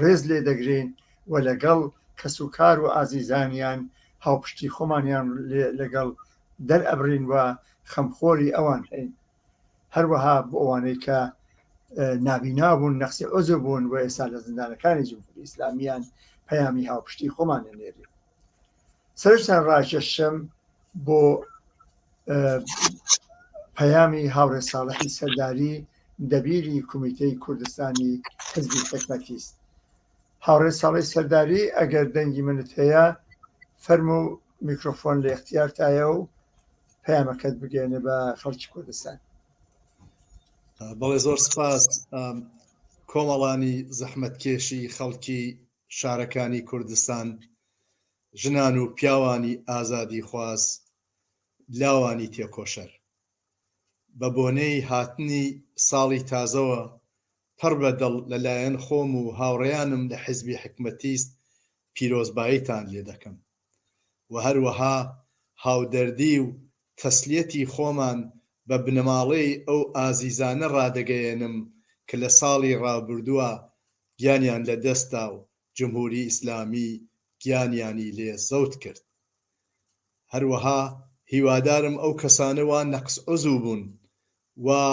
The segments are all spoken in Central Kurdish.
ڕێز لێ دەگرین و لەگەڵ کەس و کار و ئازیزانیان هاوپشتی خۆمانیان لەگەڵ دەرئەبرین و خەمخۆری ئەوان هەین هەروەها بۆ ئەوانەی کە نابینا بوون نەخسی عزو بوون و ئێستا لە زیندانەکانی جمهوری ئیسلامیان پەیامی هاوپشتی خۆمانە نێری سەرشتان ڕاکێشم بۆ پەیامی هاوڕێ ساڵحی سەرداری دەبیری کومیتەی کوردستانی حزبی حکمەتیست هاوڕێ ساڵی سەرداری ئەگەر دەنگی منت هەیە فەرم و میکرۆفۆن لە اختیارتایە و پەیامەکەت بگەێنە بە خەڵکی کوردستان بەڵێ زۆر سپاس کۆمەڵانی زەحمەتکێشی خەڵکی شارەکانی کوردستان ژنان و پیاوانی ئازادیخواز لاوانی تێکۆشەر بە بۆنەی هاتنی ساڵی تازەوە پڕ بە دڵ لە لایەن خۆم و هاوڕێیانم لە حیزبی حکمەتیست پیرۆزباییتان لێ دەکەم و هەروەها هاودەردی و تەسلیەتی خۆمان بە بنەماڵەی ئەو ئازیزانە ڕادەگەیەنم کە لە ساڵی ڕابردووە گیانیان لە دەست دا و جمهوری ئیسلامی گیانیانی لێ زەوت کرد هەروەها هیوادارم ئەو کەسانە وا نەقس عزو بوون وا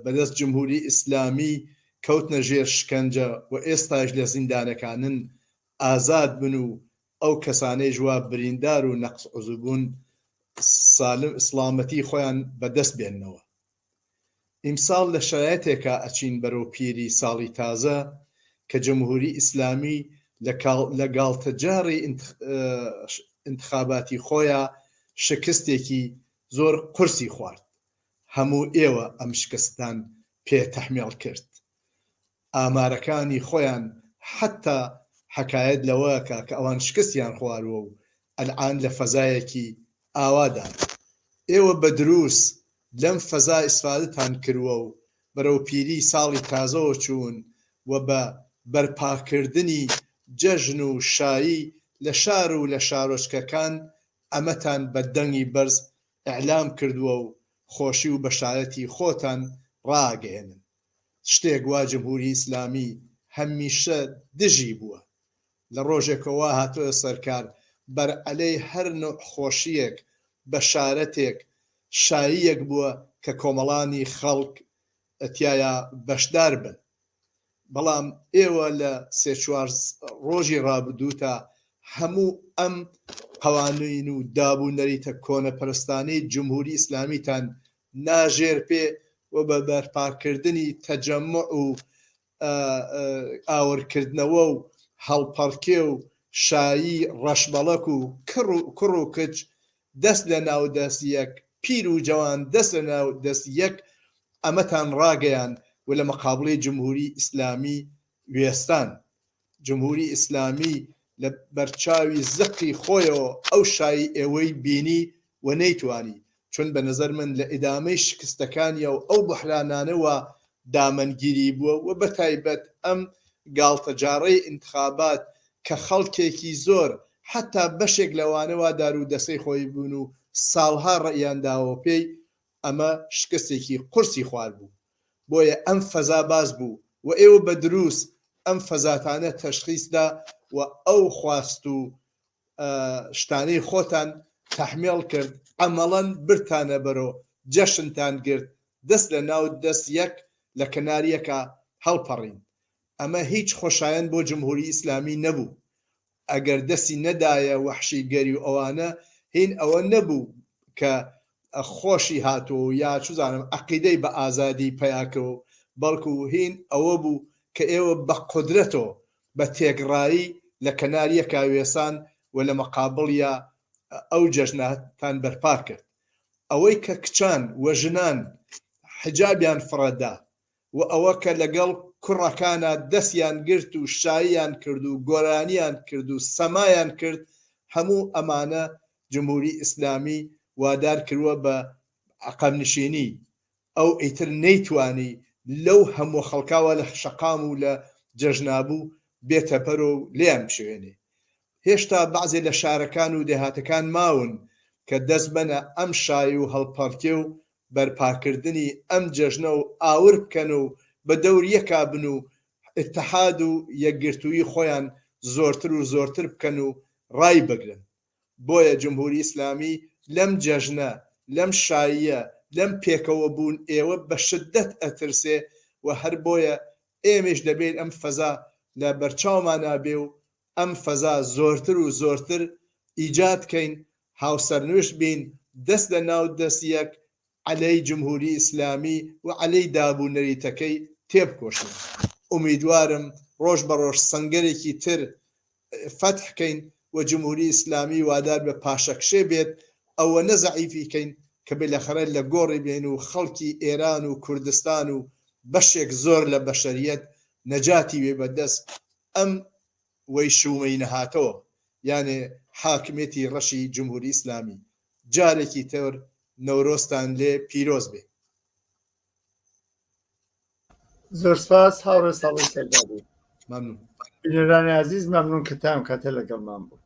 بەدەست جمهوری ئیسلامی کەوتنە ژێر شکەنجە و ئێستاش لە زیندانەکانن ئازاد بن و ئەو کەسانەی ژوا بریندار و نەقس عزو بوون سالم ئیسلامەتی خۆیان بەدەست بێنەوە ئیمساڵ لە شەرایتێکا ئەچین بەرەو پیری ساڵی تازە کە جمهوری ئیسلامی لە گاڵتەجاڕی ئینتخاباتی خۆیا شکستێکی زۆر قورسی خوارد هەموو ئێوە ئەم شکستتان پێ تەحمێڵ کرد. ئامارەکانی خۆیان حەتتا حەکایەت لەوەکا کە ئەوان شکستیان خواروە و ئەلعان لە فەزایەکی ئاوادان. ئێوە بە دروس لەم فەزا ئیسفادەتان کروە و بەرەو پیری ساڵی تازەوە چوون و بە بەرپاکردنی جەژن و شایی لە شار و لە شارۆچکەکان ئەمەتان بە دەنگی بەرز ئیعلام کردوە و خۆشی و بەشارەتی خۆتان ڕائەگەیەنن. شتێک وا جمهوری ئیسلامی هەمیشە دژی بووە لە ڕۆژێکەوە وا هاتۆتە سەر کار بەر عەلەی هەر نوع خۆشیەک بەشارەتێک شاییەک بووە کە کۆمەڵانی خەڵک تیایا بەشدار بن بەڵام ئێوە لە سێ چوار ڕۆژی ڕابدووتە هەموو ئەم قەوانین و داب و نەریتە کۆنە پەرستانەی جمهوری ئیسلامیتان لاژێرپێ و بە بەرپاکردنی تەجەموع و ئاورکردنەوە و هەڵپەڕکێ و شایی ڕەشبەڵەک و کوڕ و کچ دەست لە ناو دەست یەک، پیر و جەوان دەست لە ناو دەست یەک ئەمەتان ڕاگەیاند و لە مەقابڵی جمهوری ئیسلامی وێستان. جمهوری ئیسلامی لە بەرچاوی زەقی خۆیەوە ئەو شایی ئێوەی بینی و نەیتوانی، چون بە نەزەر من لە ئیدامەی شکستەکانیا و ئەو بوحرانانەوە دامەنگیری بووە و بەتایبەت ئەم گاڵتەجاڕەی ئینتخابات کە خەڵکێکی زۆر حەتا بەشێک لەوانە وا دارو دەسەی خۆی بوون و ساڵها ڕەئیان داوە پێی ئەمە شکستێکی قورسی خوارد بوو. بۆیە ئەم فەزا باس بوو و ئێوە بە دروس ئەم فەزاتانە تەشخیس دا و ئەو خواست و شتانەی خۆتان تەحمێڵ کرد عەمەڵەن برتانە بەرۆ جەشنتان گرت دەست لە ناو دەست یەک لە کەنار یەکا هەڵپەڕین ئەمە هیچ خۆشایەند بۆ جمهوری ئیسلامی نەبوو ئەگەر دەستی نەدایە وەحشی گەری و ئەوانە هین ئەوە نەبوو کە خۆشی هاتووە و یا چوزانم عەقیدەی بە ئازادی پەیا کەوە و بەڵکو هین ئەوە بوو کە ئێوە بە قودرەتۆ بە تێکڕایی لە کەنار یەکا وێسان و لە مەقابڵیا ئەو جەژنە تان بەرپا کرد ئەوەی کە کچان و ژنان حجابیان فڕە دا و ئەوە کە لەگەڵ کوڕەکانا دەستیان گرت و شاییان کرد و گۆرانیان کرد و سەمایان کرد هەموو ئەمانە جمهوری ئیسلامی وادار کروە بە عەقەب نشینی ئەو ئیتر نەیتوانی لەو هەمووە خەڵکاوە لە شەقام و لە جەژنابوو بێتە بەرو و لێیان بشێوێنێ هێشتا بەعزێ لە شارەکان و دێهاتەکان ماون کە دەست بەنە ئەم شای و هەڵپەڕکێ و بەرپاکردنی ئەم جەژنە و ئاور بکەن و بە دەور یەکا بن و ئیتحاد و یەکگرتوویی خۆیان زۆرتر و زۆرتر بکەن و ڕایبگرن. بۆیە جمهوری ئیسلامی لەم جەژنە، لەم شاییە، لەم پێکەوە بوون ێەوە بە شدەت ئەترسێ و هەر بۆیە ئێمەیش دەبێین ئەم فەزا لە بەرچاومانا بێ و ئەم فەزا زۆرتر و زۆرتر ئیجاد کەین، هاوسەرنوشت بین، دەست لە ناو دەست یەک عەلەی جمهوری ئیسلامی و عەلەی داب و نەریتەکەی تێبکۆشین. ئومیدوارم ڕۆژ بە ڕۆژ سەنگەرێکی تر فەتح کەین و جمهوری ئیسلامی وادار بە پاشەکشێ بێت، ئەوەنە زەعیفی کەین کە بلەخەرە لە گۆڕی بێین و خەڵکی ئێران و کوردستان و بەشێک زۆر لە بەشەریەت نەجاتی وێ بە دەست ئەم وەی شوومەی نەهاتەوە یانێ حاکمێتی ڕەشی جمهوری ئیسلامی جارێکی تر نەورۆزتان لێ پیرۆز بێ. زۆر سپاس هاوڕێ ساڵح سەردار بوو. مەمنون. بینەرانی ئازیز مەمنون کە تام کاتە لەگەڵمان بوو.